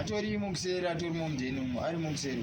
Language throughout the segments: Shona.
atorimo kuseri atorimo mudheni umo arimo kuseri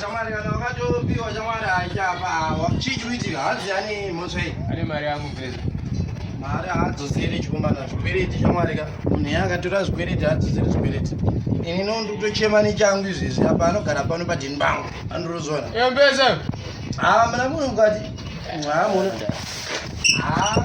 Shamwari kana wakatopiwa shamwari haichapa chii chikuitika hanzi yani mhosva iyi ane mari yangu pesa mari haadzosere chikomana zvikwereti shamwari ka munhu yaakatora zvikwereti haadzosere zvikwereti ini no ndikutochema nechangu izvezvi apa anogara pano padhini bangu andirozona embesa haa mna munhu mukati haa mona haa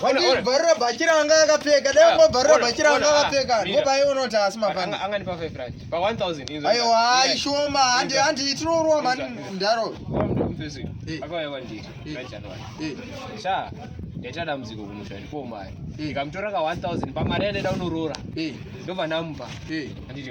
Wandibvarira bhachi ranga akapfeka, dai ungobvarira bhachi ranga akapfeka, ngopai unoti asi mafana. Anganipa 5 rand. Pa 1000 inzo. Ayo hayi shoma, handi handi tinorowa mani mdaro. Akauya kwandiri, right January. Sha, ndaita dambudziko kumusha ndipo mari. Ndikamutora ka 1000 pamari yandenda unoroora. Ndobva ndamupa. Anditi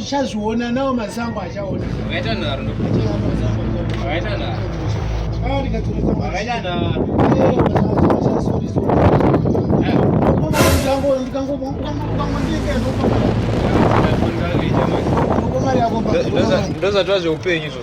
uchazviona nawo masango achaona ndozvatwa zveupenyu izvo